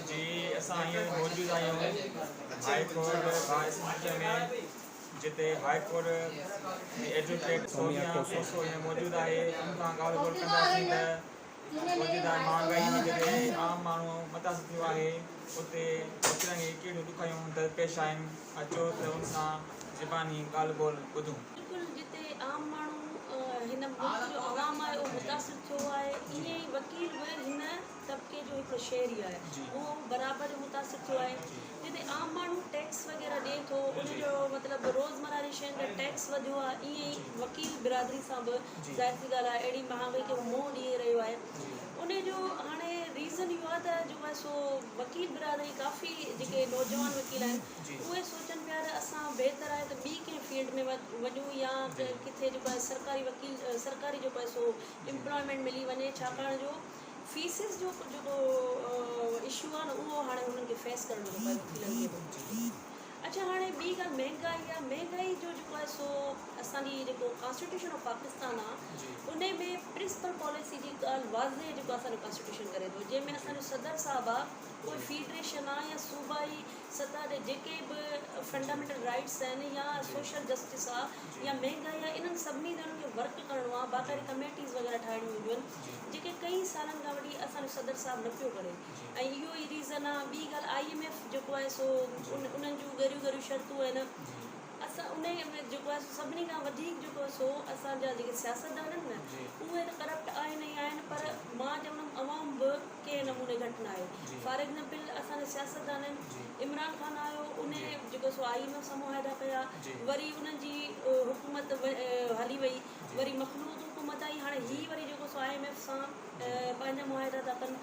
جي اسان هينئر موجود آهيون هاء ڪورٽ با اسمبليء ۾ جتي هاء ڪورٽ جي ايڊووڪيٽ سونيا ڪوسو هينئر موجود آهي ان سان ڳالهه ٻولهه ڪنداسين ته موجوده مهانگائي جي ڪري عام ماڻهو متاثر ٿيو آهي اتي وڪرن کي ڪهڙيون ڏکايون درپيش آهن اچو ته ان سان زباني ڳالهه ٻولهه ٻڌون. بلڪل جتي عام ماڻهو هن ملڪ جو عوام آهي اهو متاثر ٿيو آهي ايئن ئي وڪيل به هن طبقي جو هڪڙو شهري آهي اهو برابر جو متاثر ٿيو آهي جتي عام ماڻهو ٽيڪس وغيره ڏئي ٿو ان جو مطلب روزمره جي شين تي ٽيڪس وڌيو آهي ائين ئي وڪيل برادري سان به ظاهر سي ڳالهه آهي اهڙي مهانگائي کي هو منهن ڏئي رهيو آهي ان جو هاڻي ريزن اهو آهي ته جو آهي سو وڪيل برادري ڪافي جيڪي نوجوان وڪيل آهن اهي سوچن پيا ته اسان بهتر آهي ته ٻي ڪنهن فيلڊ ۾ وڃون يا ڪنهن ڪٿي جيڪو آهي سرڪاري وڪيل سرڪاري جيڪو آهي سو امپلائمينٽ ملي وڃي ڇاڪاڻ جو فيسز جو جيڪو اشو آ نه اهو هاڻي هنن کي فيس ڪرڻ جو پيو وڪيلن کي به اڇا هاڻي ٻي ڳالهه مهنگائي آ مهنگائي جو جيڪو آ سو اسان جي جيڪو ڪانسٽيٽيوشن آف پاڪستان آ ان ۾ پرنسپل پاليسي جي ڳالهه واضح جيڪو اسان جو ڪانسٽيٽيوشن ڪري ٿو جنهن ۾ اسان جو صدر صاحب آ ڪوئي فيڊريشن آ يا صوبائي سطح تي جيڪي به فنڊامينٽل رائيٽس آهن يا سوشل جسٽس آ يا مهنگائي آ انهن سڀني تي انهن کي ورڪ ڪرڻو آ باقاعدي ڪميٽيز وغيره ٺاهڻيون هونديون آهن جيڪي ڪئين سالن کان وٺي اسان جو صدر صاحب نه پيو ڳڻي ۽ اهو ئي ريزن آ ٻي ڳالهه آئي ايم ايف جيڪو آهي سو انهن جون ڳريون ڳريون شرطون آهن اسان انهي ۾ جيڪو آهي سو سڀني کان وڌيڪ جيڪو آهي سو اسان جا جيڪي سياستدان آهن نه اهي ته ڪرپٽ آهن ئي آهن پر مان چوندم عوام به ڪنهن نموني گهٽ نه آهي فار ايگزامپل اسان جا سياستدان آهن عمران خان آيو انهي جيڪو آهي سو آئي ايم ايف سان معاهدا ڪيا وري انهن جي حڪومت هلي وئي وري مخلوط حڪومت آئي هاڻي هي وري جيڪو سو آء ايم ايف سان پنهنجا معاهدا ٿا ڪن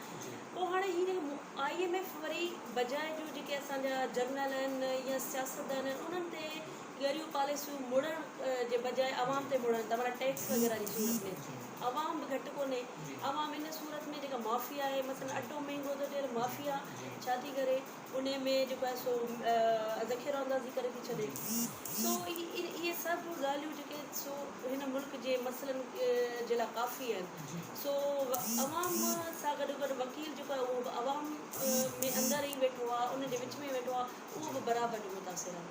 پوء هاڻي هي جيڪو آء ايم ايف وري بجاء جو جيڪي اسان جا جرنل آهن يا سياستدان آهن انهن تي ڳريون پاليسيون مڙهڻ جي بجاء عوام تي مڙهن ٿا معنيٰ ٽيڪس وغيره جي صورت ۾ عوام به گهٽ ڪونهي عوام ان صورت ۾ جيڪا مافيا آهي مثلاً اٽو مهنگو ٿو ٿئي مافيا ڇا ٿي ڪري انهيء ۾ جيڪو آهي سو ذخيرو اندازي ڪري ٿي ڇڏي. سو اهي سڀ ڳالهيون جيڪي آهن سو هن ملڪ جي مسئلن جي لاء ڪافي آهن. سو عوام سان گڏو گڏ وڪيل جيڪو آهي اهو به عوام ۾ اندر ئي ويٺو آهي، ان جي وچ ۾ ويٺو آهي، اهو به برابر جو متاثر آهي.